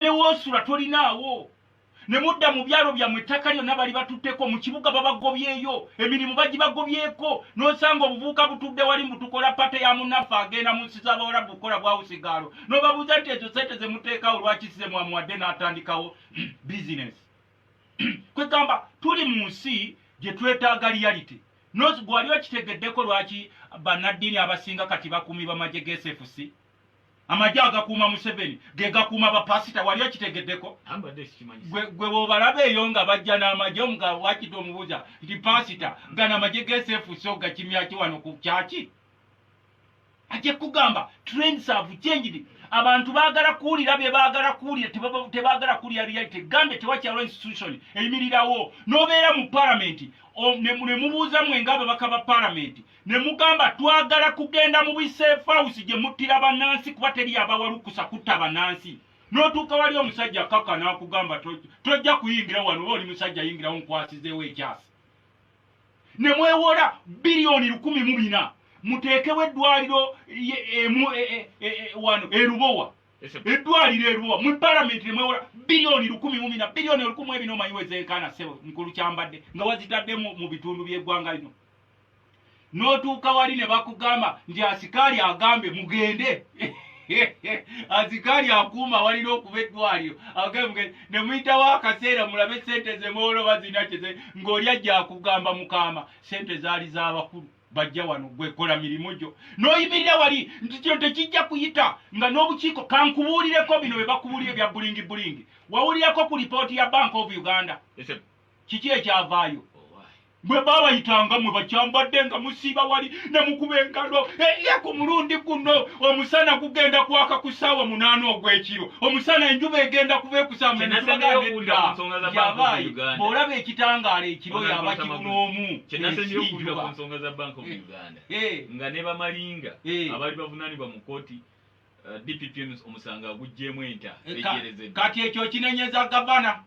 obadde wosula tolinaawo ne mudda mu byalo byammwe ettaka lyonna bali batutteko mu kibuga babagobyeyo emirimu bagibagobyeko n'osanga obuvubuka butudde wali mbu tukola pate ya munnaffe agenda mu nsi z'abawalabu kukola bwawusigaalo n'obabuuza nti ezo sente ze muteekawo lwaki size mwamuwadde n'atandikawo bizinesi kwegamba tuli mu nsi gye twetaaga liyalite nozi gwali okitegeddeko lwaki bannaddiini abasinga kati bakuumi bamagye g'esefusi amagye agakuuma museveni gegakuuma bapasita wali okitegeddeko gwe wobalaba eyo nga bajja n'amagye omuga wakita omubuuza nti pasita gana amagye gesefusi ogakimyaki wano ku kyaki ajja kugamba trends have changed abantu bagala kuwulira bye bagala kuwulira tebagala kuwulira reality gambe tewakyalo institution eyimirirawo n'obeera mu palamenti ne mubuuza mwe nga ababaka ba palamenti ne mugamba twagala kugenda mu bisefausi gye muttira bannansi kuba teri yabawalukusa kutta bannansi n'otuuka wali omusajja kaka n'akugamba tojja kuyingira wano oba oli musajja yingirawo nkwasizeewo ekyasi ne mwewola biliyoni lukumi mu bina muteekewo eddwaliro wano erubowa eddwaliro erubowa mu palamenti ne mwewola biliyoni lukumi mu bina biliyoni olukumi ebina omanyiwezeekaana sebo mukulu kyambadde nga wazitadde mu bitundu by'eggwanga lino n'otuuka wali ne bakugamba nti asikaali agambe mugende asikaali akuuma walina okuba eddwaliro agambe ne muyitawo akaseera mulabe sente zemoola oba zirina kyeze ng'oli ajja akugamba mukaama sente zaali z'abakulu bajja wano gwekola mirimu gyo n'oyimirira wali nti kino tekijja kuyita nga n'obukiiko kankubuulireko bino bye bakubuulira ebya bulingi bulingi wawulirako ku lipooti ya bank of uganda kiki ekyavaayo bwe baabayitanga mwe bakyambadde nga musiiba wali ne mukuba engalo eye ku mulundi guno omusana gugenda kwaka ku ssaawa munaana ogw'ekiro omusana enjuba egenda kuba ekusaamuyabaaye bw'olaba ekitangaala ekiro yaba kiro n'omu nga ne bamalinga abali bavunaanibwa mu kkooti eh, dpp omusango agugyemu enta eh, kati ekyo kinenyeza gavana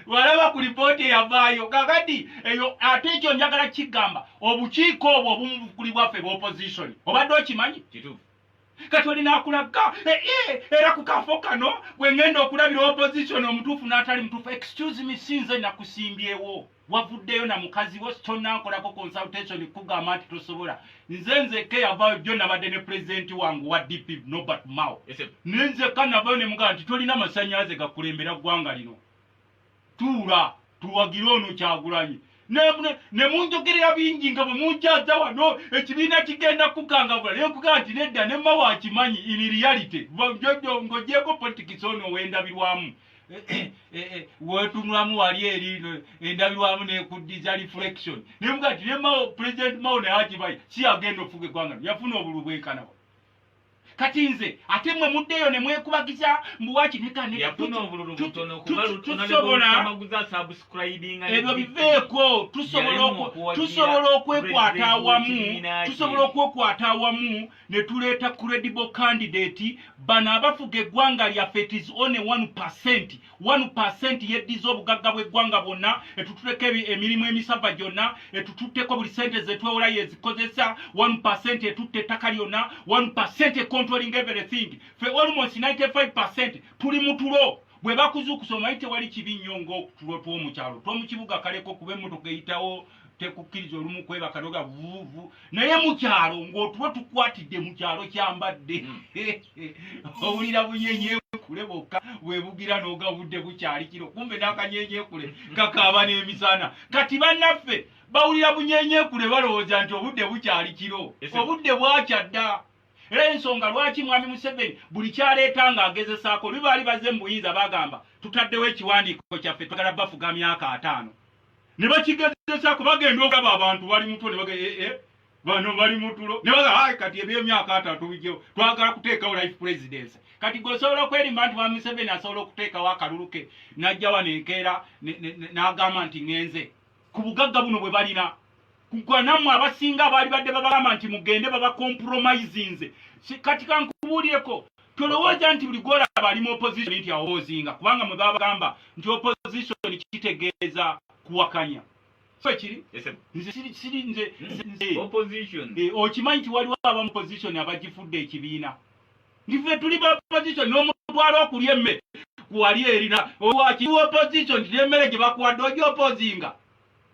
walaba ku lipooti eyavaayo kakati eyo ate ekyo njagala kigamba obukiiko obwo obumubukulibwaffe bwa opposition obadde okimanyi kituufu kati olina akulaga eh, eh, era ku kafo kano gwe ŋŋenda okulabira opposition omutuufu n'atali mutuufu excuse me sinze nakusimbyewo wavuddeyo na mukazi wo tonankolako consultation kugamba nti tosobola nze nzekka eyavayo jo nabadde ne pulezidenti wange wa dp nobert mao ne nzekka navayo ne mugamba nti tolina masanyalaze gakulembera ggwanga lino tuula tuwagire ono kyagulanyi ne munjogerera bingi nga bwe munjaza wano ekibiina kigenda kukangavula naye kugaa nti nedda ne mao akimanyi in reality ngojeko politics ono owendabirwamu Eh, eh, eh, wetunulamu wali eri endabirwamu nekuddiza reflection nemuga ti nemao president mao naye akibayi si agenda ofuga eggwanga yafuna obulu bwenkanawa kati nze ate mwe muddeyo ne mwekubagiza mbuwaki nekanebyo biveeko tusobola okwekwata awamu tusobola okwekwata awamu ne tuleeta credible candidate bano abafuga eggwanga lyaffe it is only one percent one percent yeddiza obugagga bw'eggwanga bwonna etutuleko emirimu emisava gyonna etututteko buli sente zetwewola yezikozesa one percent etutte ettaka lyonna one percent econtrolling everything fe almost 95 percent tuli mutulo bwe bakuzuukusa omanyi tewali kibi nnyo ngaokutulo twomukyalo twomukibuga kaleko kuba emmotoka eyitawo tekukkiriza olumu kwebaka noga vuvu naye mukyalo ngaotuba tukwatidde mukyalo kyambadde hmm. owulira bunyenyekule bokka webugira noga budde bukyali kiro kumbe nakanyenyekule kakaaba n'emisana kati bannaffe bawulira bunyenyekule balowooza nti obudde bukyali kiro obudde bwakyadda era ensonga lwaki mwami museveni buli kyaleeta nga agezesaako lwe baali baze mu buyinza bagamba tutaddewo ekiwandiiko kyaffe twagala bafuga myaka ataano ne bakigezesaako bagenda okulaba abantu bali mutulo ne bagamba ee eh, eh, bano bali mutulo ne bagamba ayi kati ebyemyaka atano tubijjewo twagala kuteekawo life presidency kati gwe osobola okwerimba nti wa museveni asobola okuteekawo akalulu ke n'ajjawa nenkeera n'agamba nti ŋenze ku bugagga buno bwe balina kugwa nammwe abasinga abaalibadde babagamba nti mugende babakompromisinze kati kankubuulireko tolowooza nti buli gwolaba ali mu opposition nti awozinga kubanga mwe babagamba nti opposition kitegeeza kuwakanya ekiri okimanyi nti waliwo aba muposition abagifudde ekibiina ndife tuli baposition n'omutwala okulya emmere kuwali erina owakiwa opposition nti n'emmere gye bakuwadde oja opozinga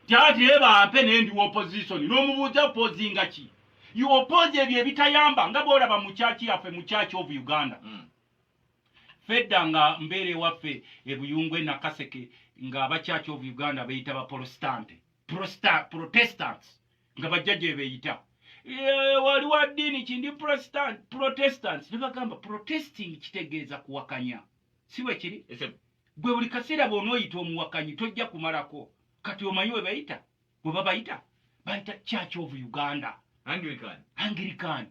Jati eba ampe ne ndi opposition nomubuuza opposinga ki you oppose ebyo ebitayamba nga bwolaba mu kyaki yaffe mu kyaki of uganda mm. fedda nga mbeera ewaffe ebuyungu enakaseke nga abakyaki of uganda beyita baprostante protestants nga bajja gyebeyita eh, wali wa ddiini kindi protestants nebagamba protesting kitegeeza kuwakanya si bwekiri Gwe buli kaseera bw'onooyita omuwakanyi tojja kumalako. Kati omanyi we bayita? We babayita? Bayita Church of Uganda. Anglican. Anglican.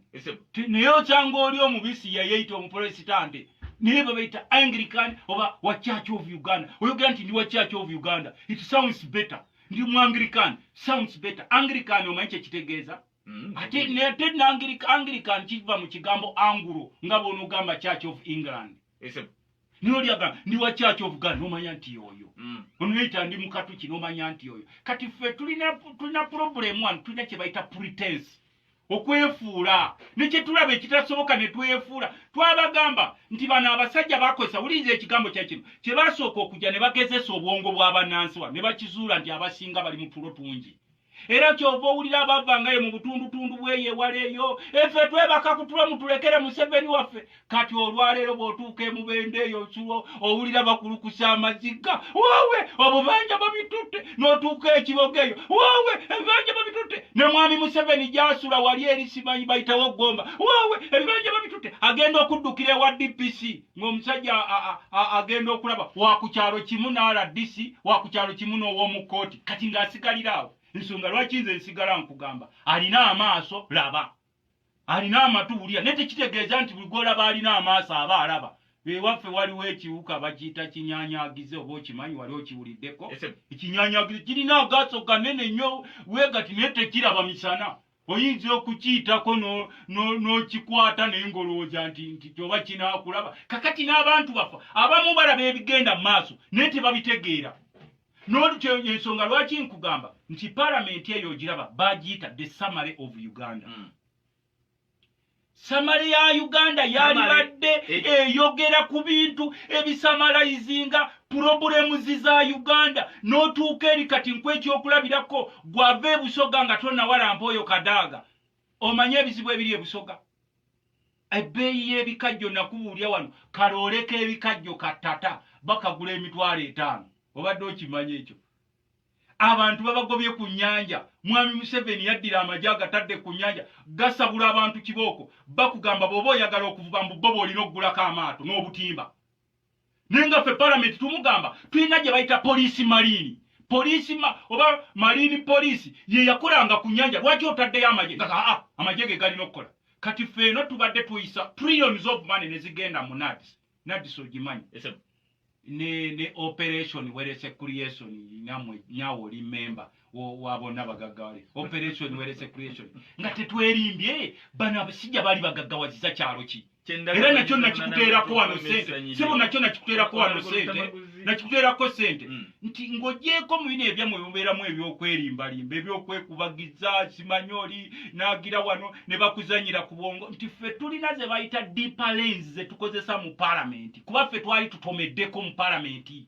Naye okyanga oli omubisi yayeyita omupolesitante. Naye babayita Anglican oba wa Church of Uganda. Oyogera nti ndi wa Church of Uganda. It sounds better. Ndi mu Anglican. Sounds better. Anglican omanyi kye kitegeeza? Mm, ate ne ate nangirik anglikan kiva mu kigambo angulo nga bwonogamba church of england FM. nolyaga ndi wa church of god nomanya nti yoyo mm. onoyita ndi mukatuki nomanya nti yoyo kati ffe tulina tulina problem one tulina kyebayita pretense okwefuula nekyetulaba ekitasoboka netwefuula twabagamba nti bano abasajja bakozesa wuliriza ekigambo kyakino kyebasooka okujja nebagezesa obwongo bwabanansi wa nebakizuula nti abasinga bali mutulo tungi era kyova owulira abavangayo mu butundutundu bweyo ewala eyo efe twebaka kutulo mutulekere museveni waffe kati olwaleero bwotuuka emubende eyo nsulo owulira bakulukusa amaziga wowe obubanja babitutte notuuka ekiboga eyo wowe ebibanja babitutte ne mwami museveni gyasula wali eri simanyi bayitawo gomba wowe ebibanja babitutte agenda okuddukira ewa dpc ng'omusajja agenda okulaba wakukyalo kimu n'rdc wakukyalo kimu n'ow'omu kkooti kati ng'asigalira awo ensonga lwaki nze nsigala nkugamba alina amaaso laba alina amatu wulira naye tekitegeeza nti buli gwolaba alina amaaso aba alaba ewaffe waliwo ekiwuka bakiyita kinyanyagize oba okimanyi wali okiwuliddeko ekinyanyagize kirina agaaso ganene nnyo wegati naye tekiraba misana oyinza okukiyitako n'okikwata naye ng'olowooza nti nti kyoba kinaakulaba kakati n'abantu baffe abamu balaba ebigenda mu maaso naye tebabitegeera nolukyo ensonga lwaki nkugamba nti palamenti eyo ogiraba bagiyita the summary of uganda mm. samale ya uganda yalibadde eh. eyogera ku bintu ebisamalayizinga pulobulemuzi za uganda n'otuuka eri kati nkw ekyokulabirako gwava ebusoga nga tonawalampa oyo kadaaga omanye ebizibu ebiri ebusoga ebbeeyi y'ebikajjo nakubuulya wano kalooleka ebikajjo katata bakagula emitwalo etaano obadde okimanya ekyo abantu babagobye ku nyanja mwami museveni yaddira amagye agatadde ku nyanja gasabula abantu kibooko bakugamba bwoba oyagala okuvuba mbu boba olina okugulako amaato n'obutimba naye nga ffe palamenti tumugamba tulina gye bayita poliisi maliini poliisi ma, oba maliini poliisi ye yakolanga ku nyanja lwaki otaddeyo amagye kaka aa amagye ge galina okukola kati ffe eno tubadde tuyisa trillions of money ne zigenda mu nadis nadis ogimanyi ne ne operation werese creation namwe nyawo oli member wabona bagaggawale operation werese creation nga tetwerimbye bano abasijja bali bagaggawaziza kyalo ki era nakyo nakikuteerako wano sente sebo nakyo nakikuteerako wano sente nakikuteerako sente mm. nti ng'ogyeko mu bino ebyamwe mubeeramu ebyokwerimbalimba ebyokwekubagiza simanyi oli naagira wano ne bakuzanyira ku bwongo nti ffe tulina ze bayita deeper lanes ze tukozesa mu palamenti kuba ffe twali tutomeddeko mu palamenti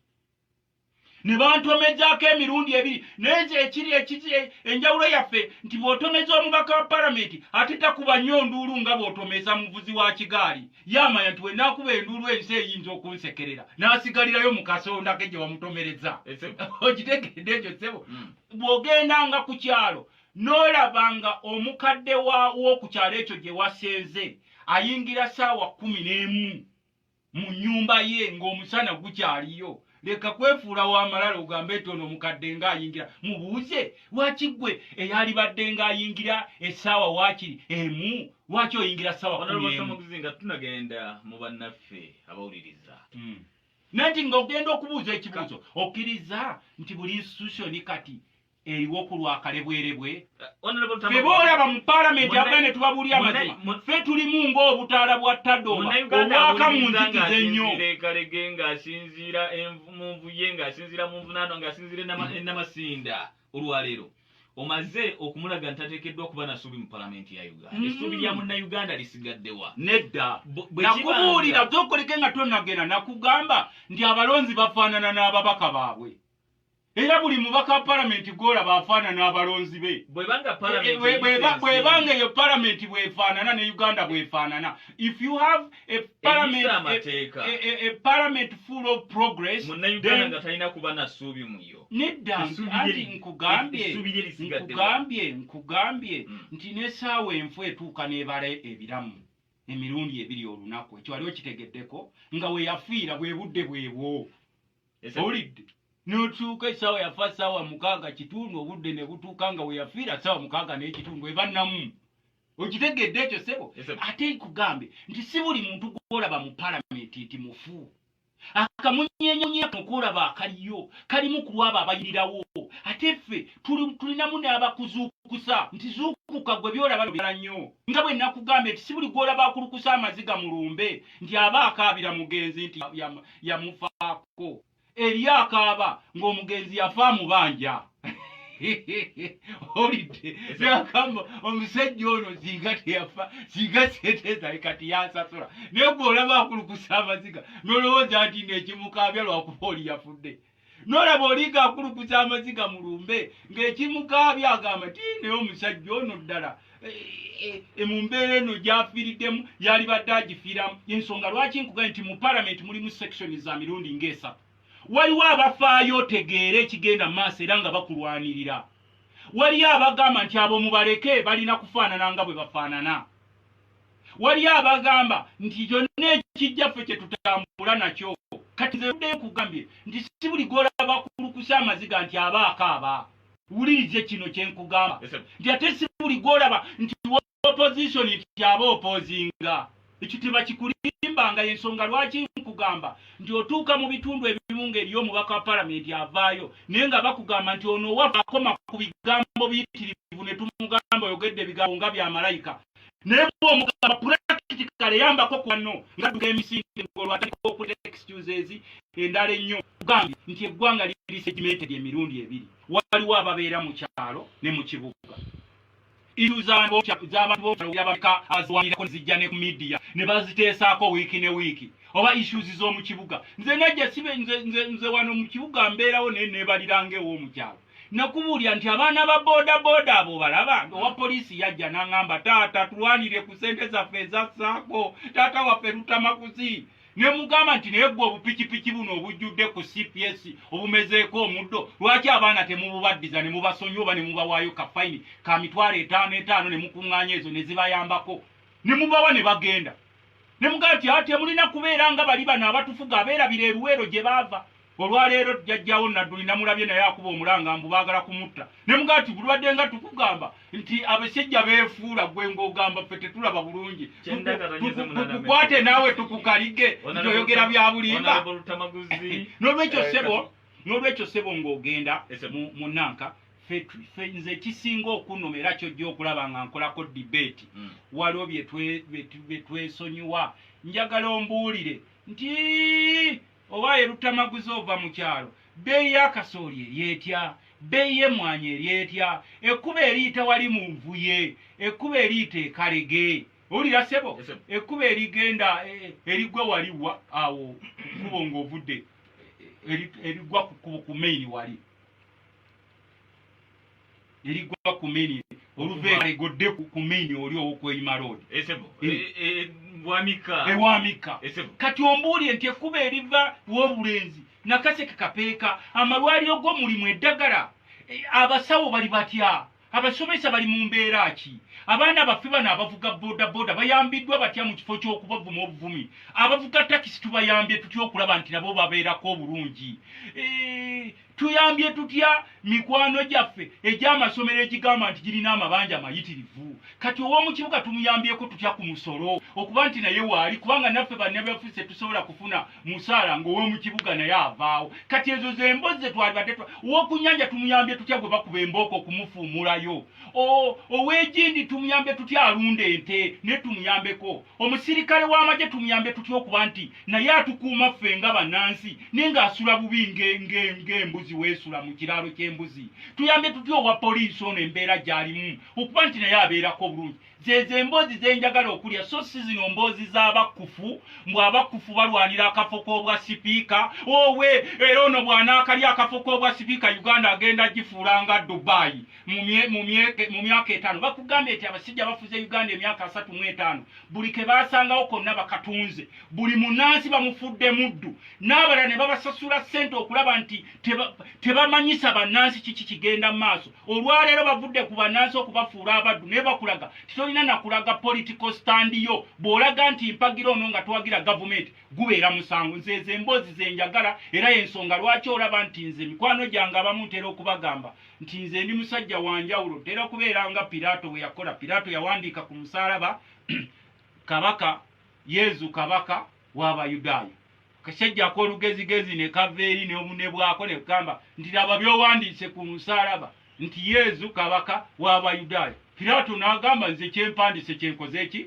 ne bantomezaako emirundi ebiri naye nze ekiri ekiri enjawulo yaffe nti bw'otomeza omubaka wa palamenti ate takuba nnyo nduulu nga bw'otomeza muvuzi wa kigaali yamanya nti wenaakuba enduulu ensi eyinza okunsekerera n'asigalirayo mu kasonda ke gye wamutomereza okitegedde ekyo ssebo hmm. bw'ogenda nga ku kyalo n'olaba nga omukadde w'oku kyalo ekyo gye wasenze ayingira ssaawa kkumi n'emu mu nyumba ye ng'omusana gukyaliyo leka kwefuula w'amalala ogambe nti ono omukadde ng'ayingira mubuuze lwaki ggwe eyalibadde ng'ayingira essaawa waakiri emu lwaki oyingira ssaawa kumiemu nga tunagenda mu bannaffe abawuliriza hmm. nanti ng'ogenda okubuuza ekibuuzo okkiriza nti buli institution kati eriwo ku lwa kalebwerebwe fe boolaba mu paalamenti abula ne tubabuulira amazima fe tulimu ng'obutaala bwa tadoba obwaka mu nzikiza ennyo kalege ng'asinziira mu nvuye ng'asinziira mu nvunaano ng'asinziira enamasinda mm. olwaleero omaze okumulaga nti ateekeddwa okuba nasuubi mu palamenti ya uganda mm. essuubi lya munnayuganda lisigaddewa nedda nakubuulira zokoleke nga tonagenda nakugamba nti abalonzi bafaanana n'ababaka baabwe era buli mubaka wa palamenti gwolaba afaanana abalonzi be bwebanga eyo palamenti bwefaanana ne uganda bwefaanana if you have a parliament, a, a, a parliament full of progress munauganda nga talina kuba na suubi muyo nedda anti nkugambye nkugambye nkugambye hmm. nti nesaawa enfu etuuka nebala ebiramu emirundi ebiri olunaku ekyo wali okitegeddeko nga weyafiira bwebudde bwebwo owulidde notuuka esaawa yafa saawa mukaaga kitundu obudde ne butuuka nga weyafiira saawa mukaaga naye kitundu eba namu okitegedde ekyo sebo ate nkugambe nti si buli muntu gwolaba mu palamenti nti mufu akamunyenyenyaokuolaba akaliyo kalimu ku lwabo abayirirawo ate ffe tulinamu n'abakuzuukusa nti zuukuka gwe byolaba bira nnyo nga bwe nakugambye nti si buli gwolaba akulukusa amaziga mu lumbe nti aba akaabira mugenzi nti yamufaako eri akaaba ng'omugenzi yafa amubanja olidde nakamba omusajja ono singa teyafa singa sente zali kati yansasula naye gwe olaba akulukusa amaziga nolowooza nti nekimukaabya lwakuba oli yafudde nolaba oliga akulukuza amaziga mu lumbe ng'ekimukaabya agamba ti naye omusajja ono ddala e, e, e, mu mbeera eno gyafiiriddemu yalibadde agifiiramu ensonga lwaki nkugae nti mu palamenti mulimu sekisoni za mirundi ng'esatu waliwo abafaayo otegeera ekigenda mu maaso era nga bakulwanirira waliyo abagamba nti abo mubaleke balina kufaanana nga bwe bafaanana waliyo abagamba nti kyonna ekijja ffe kye tutambula nakyo kati nze udde nkugambye nti si buli gwolaba kulukusa amaziga nti aba akaaba wulirize kino kye nkugamba nti ate si buli gwolaba nti opposition nti aba opozinga ekyo tebakikulimbanga yensonga lwaki nkugamba nti otuuka mu bitundu ebimu ngaeriyo omubaka wa palamenti avaayo naye nga bakugamba nti ono owafa akoma ku bigambo biyitirivu ne tumugamba oyogedde ebigambo nga byamalayika naye bwomugamba practically yambako kwano nga duka emisinde ngolwo atandika okuta excuses endala ennyo kugambye nti eggwanga liri segmented emirundi ebiri waliwo ababeera mu kyalo ne mu kibuga iru z'abantu bokyaloyabaka aziwanirako nezijja ne ku midiya ne baziteesaako wiiki ne wiiki oba issues z'omu kibuga nze najja sibe nze wano mu kibuga mbeerawo naye neebaliranga ew'omukyalo nakubuulira nti abaana ba bodaboda abo balaba owa poliisi yajja nangamba taata tulwanire ku sente zaffe ezassaako taata waffe lutamakuzi ne mugamba nti naye gwe obupikipiki buno obujjudde ku cps obumezeeko omuddo lwaki abaana temububaddiza ne mubasonyi oba ne mubawaayo ka fayini ka mitwalo etaano etaano ne mukuŋŋaanya ezo ne zibayambako ne mubawa ne bagenda ne mugamba nti ate mulina kubeera nga bali bano abatufuga abeerabira eruweero gye baava olwaleero jjajjawo nadduli namulabye naye akuba omulanga mbu baagala kumutta ne mugaa ti bulwadde nga tukugamba nti abasajja beefuula gwe ng'ogamba ffe tetulaba bulungi tukukwate naawe tukukalige ntoyogera bya bulimba n'olwekyo sebo n'olwekyo sebo ng'ogenda mu nanka nze ekisinga okunuma era kyojja okulaba nga nkolako dibeeti hmm. waliwo byetwesonyiwa njagala ombuulire nti Owaaye Luttamaguzi ova mu kyalo, bbeeyi ya kasooli eri etya? Bbeeyi y'emmwanyi eri etya? Ekkubo eriyita wali mu nvuye, ekkubo eriyita e Kalege, owulira ssebo? Ekkubo erigenda e, e, eriggwa wali wa awo ku kkubo ng'ovudde e, e, eriggwa ku kkubo ku main wali. neligwa ku mini oluveegodde ku mini oli owokweyima lood ewamika kati ombuulire nti ekkuba eriva wobulenzi nakaseke kapeeka amalwaliro go mulimu eddagala e, abasawo bali batya abasomesa bali mu mbeera ki abaana baffe bano abavuga bodaboda bayambiddwa batya mu kifo ky'okubavuma obuvumi abavuga takisi tubayambye tutya okulaba nti nabo babeerako obulungi e, tuyambye tutya mikwano gyaffe egy'amasomero egigamba nti girina amabanja amayitirivu kati ow'omu kibuga tumuyambyeko tutya ku musolo okuba nti naye waali kubanga naffe banebafuse tusobola kufuna musaala ng'ow'omu kibuga naye avaawo kati ezo zembozi zetwalibadde ow'okunyanja tumuyambye tutya gwe bakuba embooko okumufuumulayo ow'egindi tumuyambye tutya alunda ente naye tumuyambeko omusirikale w'amagye tumuyambye tutya okuba nti naye atukuuma ffe nga bannansi naye ng'asula bubi ng'embuzi weesula mu kiraalo ky'embuzi tuyambe tutya owa poliisi ono embeera gy'alimu okuba nti naye abeerako obulungi zezo emboozi ze njagala okulya so si zino mboozi z'abakkufu mbw abakkufu balwanira akafo k'obwa sipiika owe era ono bw'anaakalya akafo k'obwa sipiika uganda agenda gifuula nga dubaayi mu myaka etaano bakugambye nti abasajja bafuze uganda emyaka asatu mu etaano buli ke basangawo konna bakatunze buli munansi bamufudde muddu n'abala ne babasasula ssente okulaba nti tebamanyisa bannansi kiki kigenda mu maaso olwaleero bavudde ku bannansi okubafuula abaddu naye bakulaga titolina nakulaga political stand yo bw'olaga nti mpagira ono nga twagira gavumenti gubeera musango nze ezo emboozi zenjagala era yensonga lwaki olaba nti nze mikwano gyange abamu ntera okubagamba nti nze ndi musajja wa njawulo ntera kubeera nga piraato bwe yakola piraato yawandiika ku musaalaba kabaka yezu kabaka w'abayudaaya kasajja akolugezigezi ne kava eri neobune bwako ne kugamba nti laba byowandiise ku musaalaba nti yezu kabaka w'abayudaaya piraato n'agamba nze kyempandiise kyenkoze eki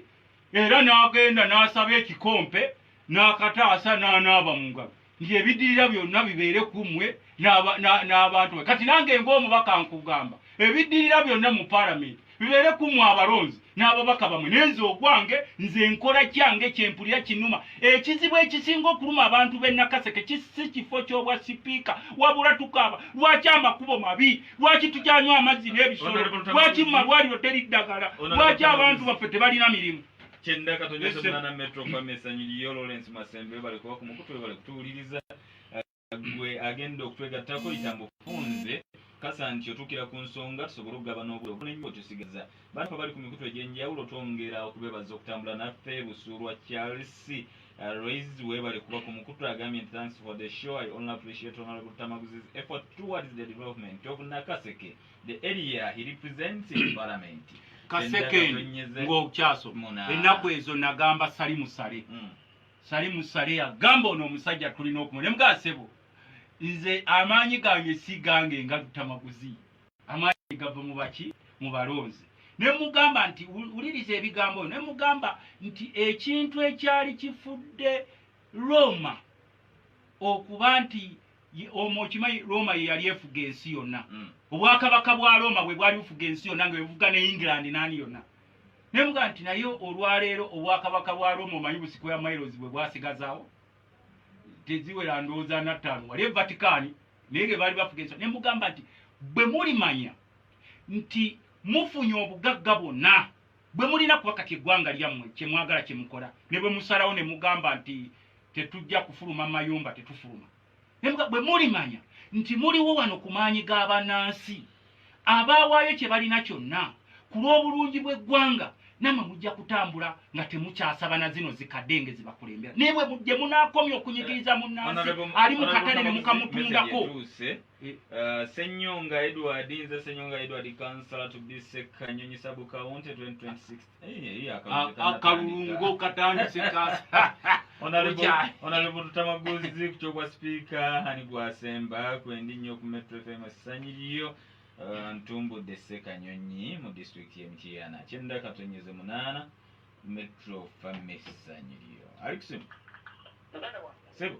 era n'agenda n'asaba ekikompe n'akataasa n'anaaba mu ngalo nti ebiddirira byonna bibeere ku mmwe n'abantu ba kati nange ng'omubaka nkugamba ebiddirira byonna mu palamenti bibeere ku mmwe abalonzi n'ababaka bamwe nenze ogwange nze nkola kyange kyempulira kinuma ekizibu ekisinga okuluma abantu b'e nakaseke kisi kifo ky'obwa sipiika wabula tukaaba lwaki amakubo mabi lwaki tukyanywa amazzi n'ebisolo lwaki mu malwaliro teri ddagala lwaki abantu baffe tebalina mirimu kyenda katonda Listen. semana metro fam esanyu liyo lawrence masembe webale kuba ku mukutu webale kutuwuliriza Ah, gwe agenda okutwegattako itambo funze kasa nti otuukira ku nsonga tusobole okugabana obudde obunenyo otusigaza bantu abali ku mikutu egy'enjawulo twongera okubebaza okutambula naffe busuulwa charles ah, Royce webale kuba ku mukutu agambye nti thanks for the show i only appreciate honorable tamaguzi's effort towards the development of nakaseke the area he represents in parliament kasekeni ng'okyaso ennaku ezo nagamba sali musale mm. sali musale yagamba ono omusajja tulina okuma ne mugasebo nze amaanyi gange si gange nga lutamaguzi amaanyi gava mu baki mu balonzi ne mugamba nti wuliriza ebigambo ne mugamba nti ekintu ekyali kifudde roma okuba nti omwo okimanyi roma yeyali efuga ensi yonna mm. obwakabaka bwa roma bwe bwali bufuga ensi yonna nga ebuvuga ne england nani yonna naye muga nti naye olwaleero obwakabaka bwa roma omanyi busiko ya mailos bwe bwasigazaawo teziwera ndowooza nattaano wali evatikaani naye ge baali bafuga ensi ne mugamba nti bwe mulimanya nti mufunye obugagga bwonna bwe mulina kuba kati eggwanga lyammwe kye mwagala kye mukola ne bwe musalawo ne mugamba nti tetujja kufuluma mayumba tetufuluma bwe mulimanya nti muliwo wano ku maanyi g'abannansi abaawaayo kye balina kyonna ku lw'obulungi bw'eggwanga namwe mujja kutambula nga temukyasaba na zino zikadde nge zibakulembera naye bwe mujje munaakomya okunyigiriza munnansi ali mu katale ne mukamutundako I- uh, Senyonga Edward nze Senyonga Edward kansala to be Sekanyonyi sub county 2026 Eh, eh, A- akalulu kanatandika. akalungo katandise kasa Honorable- Bukya. Honorable Lutamaguzi ku ky'obwa sipiika ani gwasemba kwendi nnyo ku Metro FM essanyu lyo Uh, ntumbudde Sekanyonyi mu disitulikiti y'e Mityana kyenda katonyeze munaana Metro Family essanyu lyo Alikusimu muganda wange sebo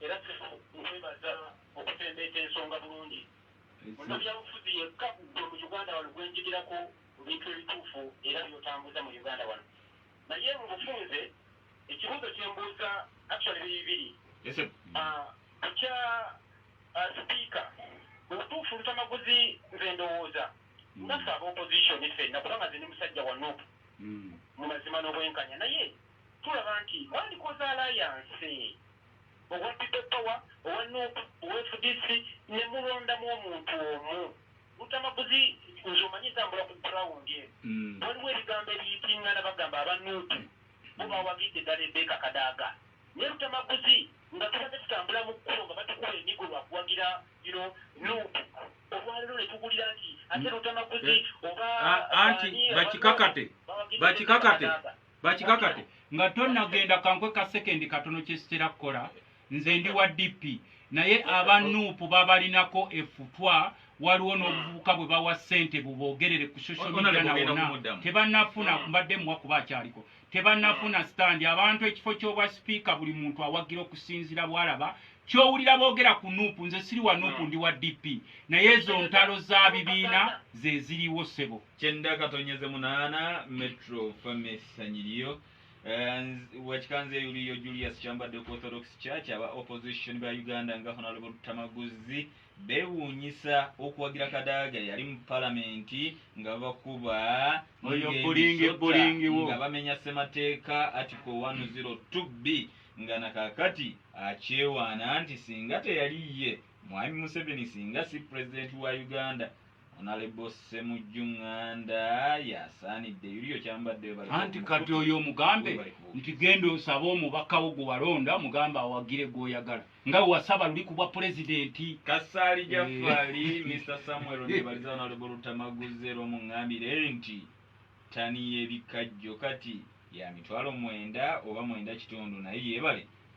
Era kitufu nkwebaza okusembeeta ensonga bulungi. Munabyabufuzi yekka gwe mu Uganda wano gwenjigirako ku bintu ebituufu era byotambuza mu Uganda wano. Naye mu bufunze ekibuuzo kyembuuza actually biri bibiri. Ku kya sipiika mu butuufu Lutamaguzi nze ndowooza nga ffe aba opposition ffenna kubanga nze ndi musajja wa Nup mu mazima n'obwenkanya naye Tulaba nti mwandikoze alayanse, owa People Power, owa nup, owa fdc ne mulondamu omuntu omu. Lutamaguzi nze omanyi ntambula ku ground eno, waliwo ebigambo ebiyitingana bagamba aba nup bo bawagidde ddala Rebecca Kadaga ne Lutamaguzi nga tubadde tutambula mu kkubo nga batukuba emigo lwa kuwagira you know nup, olwaleero ne tuwulira nti ate Lutamaguzi oba baani abannansi bawagidde Rebecca Kadaga. bakikakate nga tonagenda kankwe ka sekendi katono kyesitera kukola nze ndi wa dp naye aba nup babalinako efutwa waliwo n'obuvubuka bwe bawa ssente bubogerere ku social media nawona tebanafuna mm. mbadde muwa kuba akyaliko tebanafuna mm. standi abantu ekifo ky'obwa sipiika buli muntu awagira okusinzira bwalaba kyowulira boogera ku nuupu nze siri wa nuupu mm. ndi wa dp naye ezo ntalo za bibiina zeziriwo ssebo kyenda katonyeze munana metro fame sanyiriyo eh, wakikanze yuliyo julius kyambadde ku orthodox church aba opposition ba uganda nga honalebo lutamaguzi bewunyisa okuwagira kadaaga yali mu palamenti nga bakuba nga bamenya semateeka article 102 b nga nakakati akyewaana nti singa teyali ye Mwami Museveni singa si Pulezidenti wa Uganda, Honalebo Ssemujju Nganda y'asaanidde yuli okyambadde webale. Anti kati oyo omugambe nti genda osabe omubaka wo gwe walonda omugambe awagire gw'oyagala nga we wasaba luli ku bwa Pulezidenti. Kasaali Jafali, eh. Mister Samuel Nebaliza Honalebo Luttamaguze lw'omungambire nti ttani y'ebikajjo kati ya mitwalo mwenda oba mwenda kitundu naye yeebale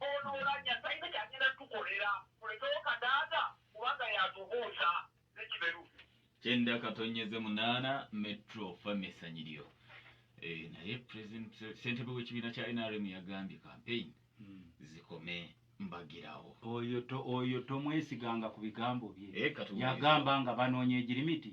Olulala Nyasainga kyagenda tukolera tulekewo Kadaga kubanga yatubuusa ne Kiberu. Kyenda katonyeze munana metro fame sanyiryo eh, naye president sentebe w'ekibiina kya nrm yagambye campaign hmm. zikome mbagirawo oyo tomwesiganga ku bigambo bye eh, yagamba nga banoonya egirimiti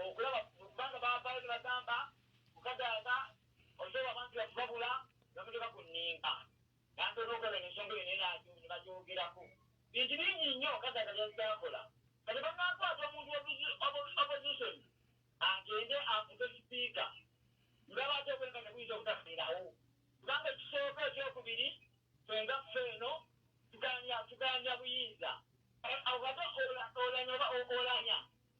okulaba kubanga bavaayo ne bagamba kukadaga osobola abantu yakubabula bamutuka ku nninga nantoona okulaba eno ensonga eyo nenaajo ne bagyogerako bintu bingi nnyo kadaga byazaakola kati banakwata omuntu opposition agende afuke sipiika ngabaate okwenga ne buyinza obutafiirawo kubanga ekisooka ekyokubiri fenga ffe eno tuganya buyinza ate olanya oba olanya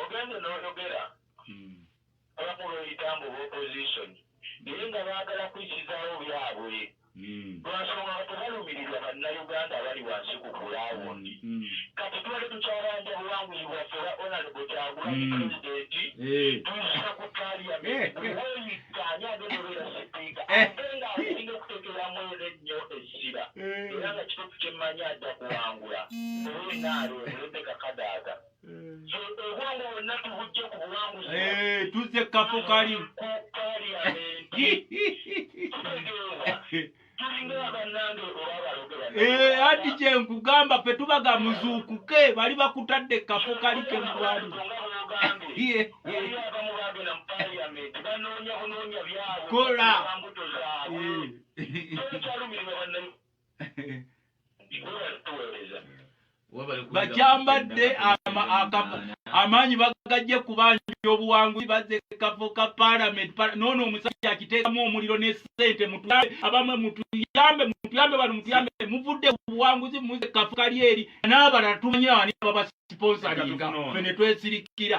Ogende noyogera abamu beyita mbu bopposition naye nga bagala kuyisizaawo byabwe lwansonga nga tebalumirirwa bannauganda abali wansi ku ground. Kati tubadde tukyabanja buwanguzi bwaffe obwa Honourable Kyagulanyi president tuzza ku parliament buli weyikka ani agenda obeera sipiika ate nga asinga okutekeramu era ennyo essira era nga kituufu kyemmanyi ajja kuwangula oba enaale Rebecca Kadaga. obwongo bwonna tubujje ku buwanguzi eh, tuzze kafo kali eh, anti kyenkugamba fe tubaga muzuukuke bali bakutadde kafo kali kemubali kola bakyambadde amaanyi bagajje kubanja obuwanguzi bazze kafo ka palamenti noono omusajja akiteekamu omuliro ne sente mutuyambe abamwe mutuyambe mutuyambe bano mutuyambe muvudde obuwanguzi muze kafo kali eri n'abalala tumanyi ani babasiponsalinga fe ne twesirikira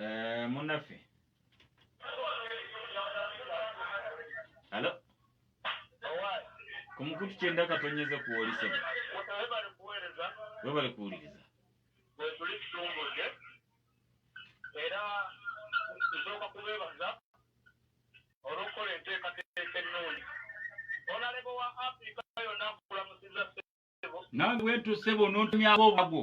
Eh, munaffe alo ku mukutu kyenda katonyeze kuwoli sebo webale kuwuliriza wetuli kitongole era nsooka kubeebaza olw'okukola enteekateeka ennungi onalebo wa afrika yonna akulamusiza sebo nange wetuuse bonoontumyako obwago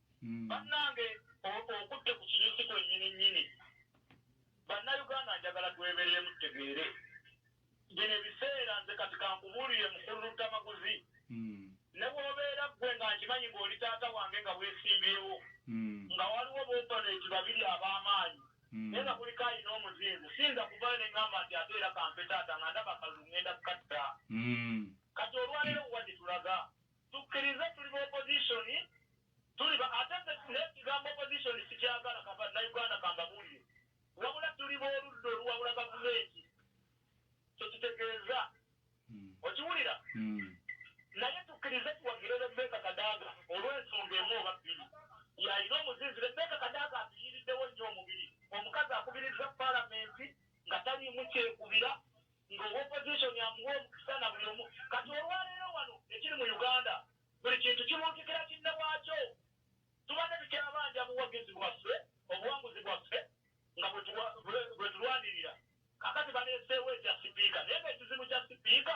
Banange okutte ku kinyusi kwenyini nyini banauganda njagala tweberemu tutegeere bino ebiseera nze kati kankubuulire mukulu Luttamaguzi nebwobeera gwe nga nkimanyi nga oli taata wange nga wesimbyewo nga waliwo bopponeti babiri abamaanyi naye nga kuliko alina omuzinzi siyinza kuvaayo nengamba nti ate era kampe taata nga ndaba akalulu ngenda kukatta kati olwaleero wuwa gyetulaga Tukkirize tuli ba opposition tuli ba ate nze nekigambo opposition sikyagala kaba na Uganda kambabuulire wabula tuli b'oludda oluwabula gavumenti kyekitegeeza okiwulira naye tukkirize tuwagire Rebecca Kadaga olw'ensonga emu oba bbiri y'alina omuzinzi Rebecca Kadaga atuyiiriddewo nnyo omubiri omukazi akubirizza palamenti nga taliimu kyekubira nga owa opposition amuwa omukisa na buli omu kati olwaleero wano ekiri mu Uganda buli kintu kibuutikira kinne waakyo tubadde tukyabanja buwagizi bwaffe obuwanguzi bwaffe nga bwetulwanirira kakati baleeseewo ekya sipiika naye nga ekizibu kya sipiika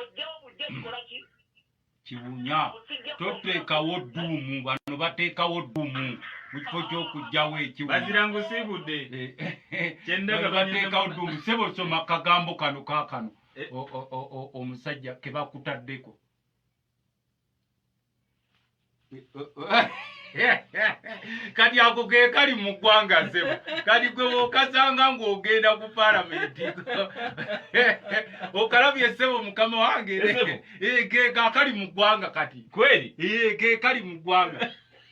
ojjawo bujja kikola ki kiwunya toteekawo dduumu bano bateekawo dduumu mu kifo ky'okugjawo ekiwunyabazirangusibudde eh, eh, eh, kyendaga bateekawo dduumu sebo soma kagambo kano kakano omusajja kebakutaddeko kati ako ke kali mu ggwanga ssebo kati gwe wokasanga ng'ogenda ku palamenti okalabye ssebo mukama wange eh, ke kakali mu ggwanga kati kweri eh, ke kali mu ggwanga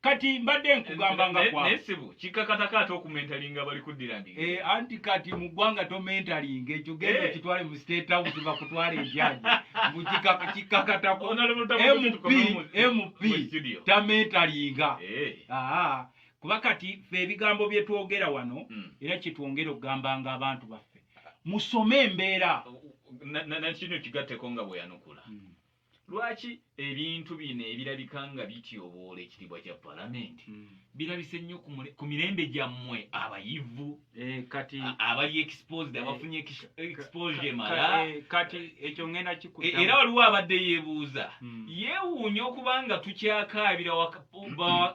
kati mbadde nkugamba nga kwa naye sebo kikakata kata okumentalinga abali kuddira ndi eh anti kati mu gwanga to mentalinga ekyo gendo eh. kitwale mu state house ba kutwale ejaji mu kikaka kikakata ko MP MP ta mentalinga eh ah kuba kati fe ebigambo bye twogera wano hmm. era kitwongera okugamba nga abantu baffe musome embeera na na kino kigateko nga bwe yanukula hmm. Lwaki ebintu bino ebirabika nga bityoboola ekitiibwa kya Palamenti hmm. birabise nnyo ku mirembe gyammwe abayivu eh, kati abali exposed eh, abafunye exposure emala eh, kati ekyo ngenda kikuta era waliwo abadde yeebuuza hmm. yeewuunya okuba nga tukyakaabira hmm.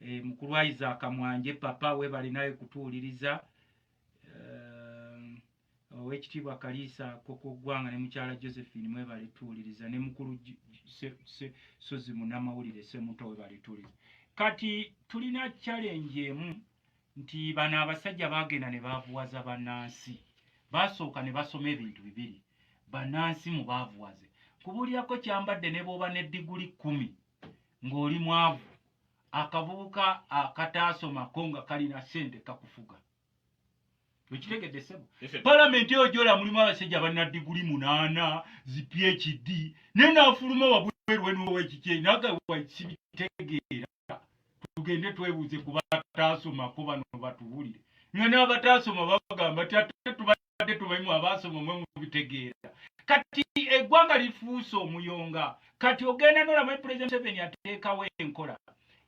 Eh, mukulu wa Isaac Mwanje papa webale nawe kutuwuliriza eh, owekitiibwa Kaliisa koko gwanga ne mukyala Josephine mwebale tuwuliriza ne mukulu Sozi munamawulire Semuto webale tuwuliriza kati tulina challenge emu nti bano abasajja bagenda ne bavuwaza banansi basooka ne basoma ebintu bibiri banansi mu bavuwaze kubulyako kyambadde ne bwoba ne diguli kumi ng'oli mwavu akavubuka akataasoma ko nga kalina sente kakufuga okitegedde sebo palamenti eyo gyola mulimu abasajja balina diguli munaana zi phd naye naafuluma wabwerwenuwekikye nagawakisibitegeera tugende twebuuze ku bataasomako bano batubulire nga n'abataasoma bagamba ti ate tuba tubadde tumanyi mu abaasoma mwe mubitegeera kati eggwanga lifuuse omuyonga kati ogenda nolamu president seven ateekawo enkola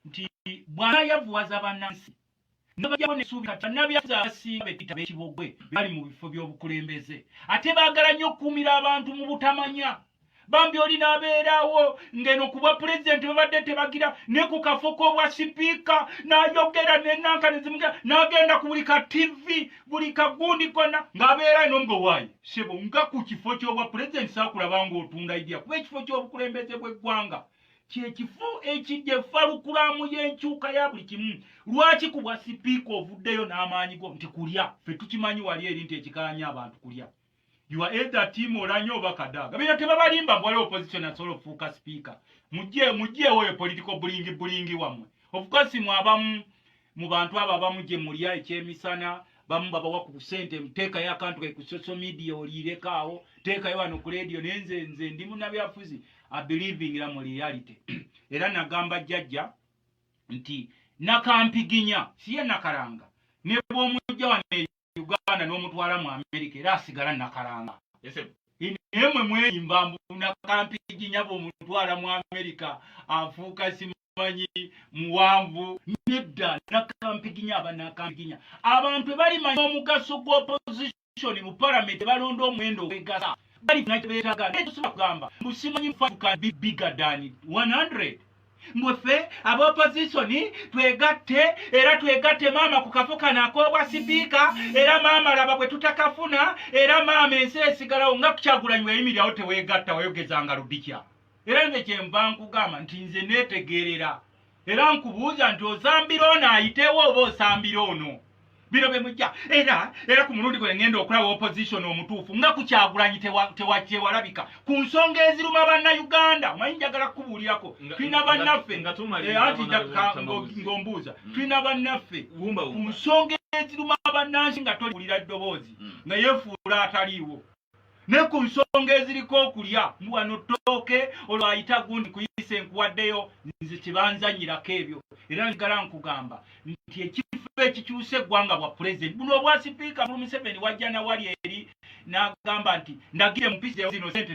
nti bwanayavuwaza bannansi nabajako nesuubi kati bannabyaza abasinga betuyita bekibogwe bali mu bifo by'obukulembeze ate baagala nnyo okukuumira abantu mu butamanya bambi oli nabeerawo ngeno kubwa pulezidenti babadde tebagira ne ku kafo k'obwa sipiika nayogera nenanka nezimugira nagenda ku buli ka tivi buli kagundi kona ng'abeera ino nga owaayi sebo nga ku kifo ky'obwa pulezidenti sakulaba ng'otunda idya kuba ekifo ky'obukulembeze bw'eggwanga kyekifo ekijja efalukulamu y'enkyuka ya buli kimu lwaki ku bwa sipiika ovuddeyo n'amaanyi go nti kulya fe tukimanyi wali eri nti ekikanya abantu kulya You are either team Olanyo oba Kadaga. Bino tebabalimba mbwale opposition asobola okufuuka speaker. Mujje mujje oyo political bullying bullying wamwe. Of course mu abamu mu bantu abo abamu gye mulya ekyemisana bamu babawa ku sente mteeka ya kantu ku social media olireka awo teeka yo wano ku radio nenze nze ndi munabyafuzi I believing in mu reality. Era nagamba jajja nti nakampiginya siye nakaranga. Nebo mujja wano uganda n'omutwala mu amerika era asigala nakalanga naye mwe mweyimba mbunakampiigi nyaba omutwala mu amerika afuuka simanyi muwanvu nedda nakampiginya abanakampiginya abantu ebali manyi omugaso gwa opposition mu palamenti balonda omwendo ogwegasa bali nakyo betagala naye tusobola kugamba mbusimanyi mufaduka bibigadani 100 mbuffe aba opozisoni twegatte era twegatte maama ku kafo kano ak'obwa sipiika era maama laba bwe tutakafuna era maama ensi esigalawo nga kukyagulanyi weyimirirawo teweegatta wayogezanga ludikya era nze kyenva nkugamba nti nze neetegeerera era nkubuuza nti osambira ono ayitewo oba osambira ono bino bye mujja era era ku mulundi gwe ngenda okulaba opposition omutuufu nga ku kyagulanyi tewakyewalabika ku nsonga eziruma banna uganda omanyi njagala kukubuulirako tulina bannaffe eh, anti ng'ombuuza mm. tulina bannaffe ku nsonga eziruma bannansi nga toliwulira ddoboozi mm. nga yefuula ataliiwo ne ku nsonga eziriko okulya mbu wano ttooke olwo ayita gundi kuyise nkuwaddeyo nze kyebanzanyirako ebyo era njgala nkugamba nti ekifo ekikyusa eggwanga bwa pulezidenti buno obwa sipiika bulu museveni wajja nawali eri n'agamba nti ndagire mupisi zino sente